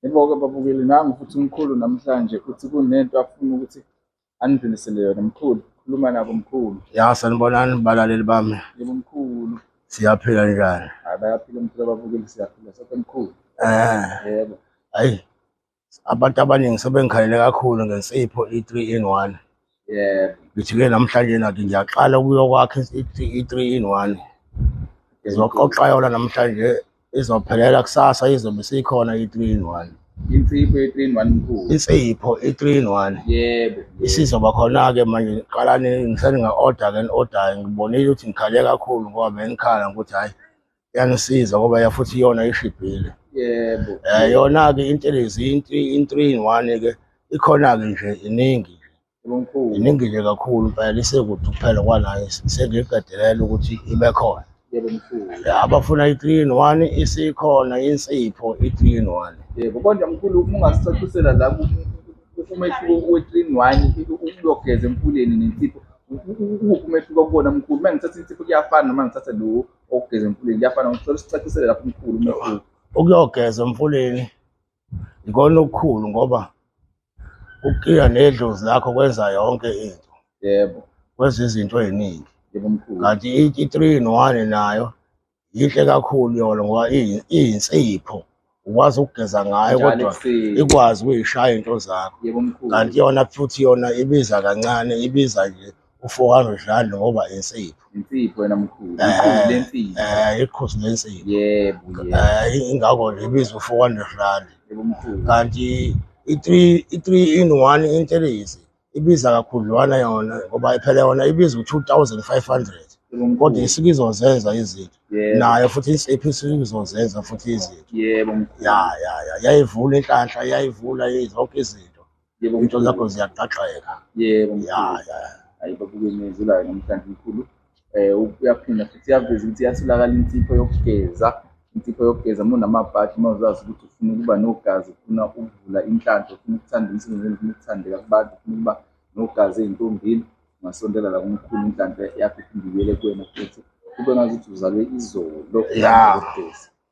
Yebo-ke babukeli nangu futhi umkhulu namhlanje uthi kunento afuna ukuthi anidlulisele yona mkhulu khuluma nabo mkhulu ya sanibonani balaleli bami yebo mkhulu siyaphila njani hayi bayaphila mkhulu ababukeli siyaphila sonke mkhulu eh yebo hayi abantu abaningi sebengikhalele kakhulu ngensipho i-3 in 1 yebo ngithi-ke namhlanje nathi ngiyaqala ukuyokwakha i-three in one ngizoqoqa yona namhlanje izophelela kusasa izobe sikhona i-three in one insipho ye-three in one mkhulu insipho i-three in one yebo isizoba khona-ke manje ngiqala ngiseninga-order-ke ni-order-ke ngibonile ukuthi ngikhale kakhulu ngoba bengikhala ngokuthi hhayi yangisiza ngoba ya futhi iyona ishibhile yebo Eh, yona-ke intelezi intri- inthree in one ke ikhona-ke nje iningi yebo mkhulu iningi nje kakhulu impela isekude kuphela kwanayo sengiyiqedelela ukuthi ibe khona yebo mkhulu Ya, abafuna i-three in one isikhona insipho i-three in one yebo kodwa mkhulu uma ungasicacisela la ku- ku- ku- umehluko we-three in one ukuyogeza emfuleni nensipho ukuphi umehluko kubona mkhulu uma ngithatha insipho kuyafana noma ngithatha lo okugeza emfuleni kuyafana ngicela usicacisele lapho umkhulu umehluko ukuyogeza emfuleni ikona okukhulu ngoba ukukhiya nedlozi lakho kwenza yonke into yebo kwenza izinto eziningi yebo mkhulu kanti i-three in one nayo yinhle kakhulu yona ngoba iyinsipho ukwazi ukugeza ngayo Njalo kodwa ekuseni. ikwazi ukuyishaya into zakho Yebo mkhulu. kanti yona futhi yona ibiza kancane ibiza nje u-400 rand ngoba insipho Insipho yena mkhulu. Eh. Ikhulu lensipho. um ikhosi lensipho Yebo yebo. um ingakho nje ibiza u-400 rand Yebo mkhulu. kanti i-three i-three in one intelezi ibiza kakhudlwana yona ngoba phela yona ibiza u-2500 kodwa isuke izozenza izinto Yebo. nayo futhi insipho isuke izozenza futhi izinto yebo mkhulu ya ya ya yayivula inhlanhla yayivula i- zonke izinto yebo into mkhulu zakho ziyaqaqeka yebo ya mkhulu ya hayi babuke imizulayo namhlanje mkhulu eh uyaphinda futhi iyaveza ukuthi iyatholakala insipho yokugeza insipho yokugeza uma unamabhadi uma uzazi ukuthi ufuna ukuba nogazi ufuna ukuvula inhlanhla ufuna ukuthanda umsebenzi ufuna ukuthandeka kubantu ufuna ukuba nogazi ey'ntombini ungasondela la kumkhulu inhlanhla yakho iphinde ibuyele kuwena futhi kube ngazuthi uzalwe izolo ya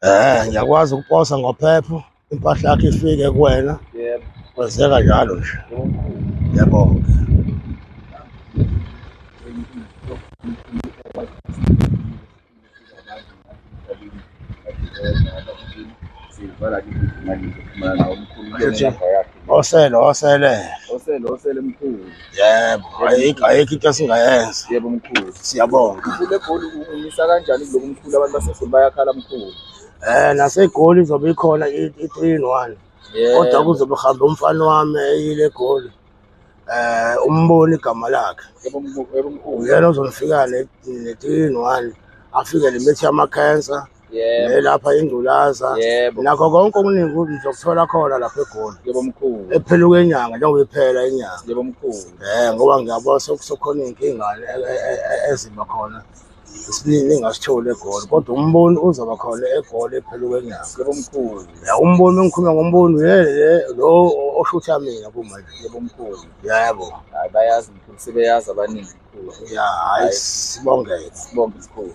Eh, ngiyakwazi ukuposa ngophepho impahla yakho ifike kuwena. Yebo. Kwenzeka njalo nje. Yebo. Osele, osele. Osele, osele mkhulu. yebo ayikho ayikho into esingayenza yebo mkhulu siyabonga ule goli umisa kanjani kuloku mkhulu abantu basegoli bayakhala mkhulu eh nasegoli izobe ikhona i-three in one kodwa kuzobe kuhambe umfana wami eyile goli eh umboni igama lakhe uyena ozonifika ne-three in one afike limithi yama-cancer yebo elapha ingculaza yebo nakho konke okuningi ukuthi ngizokuthola khona lapha egoli yebo mkhulu ephela kwenyanga njengoba iphela inyanga yebo mkhulu eh ngoba ngiyabona sekusokhona iy'nkingane e- e- e- e- eziba khona esiningi engasitholi egoli kodwa umboni uzoba khona egoli ephela kwenyanga yebo mkhulu ya umboni engikhuluma ngomboni yele lo oshutha mina kumanje yebo mkhulu yebo hayi bayazi mkhulu sebeyazi abaningi mkhulu ya hayi sibongeke sibonge mkhulu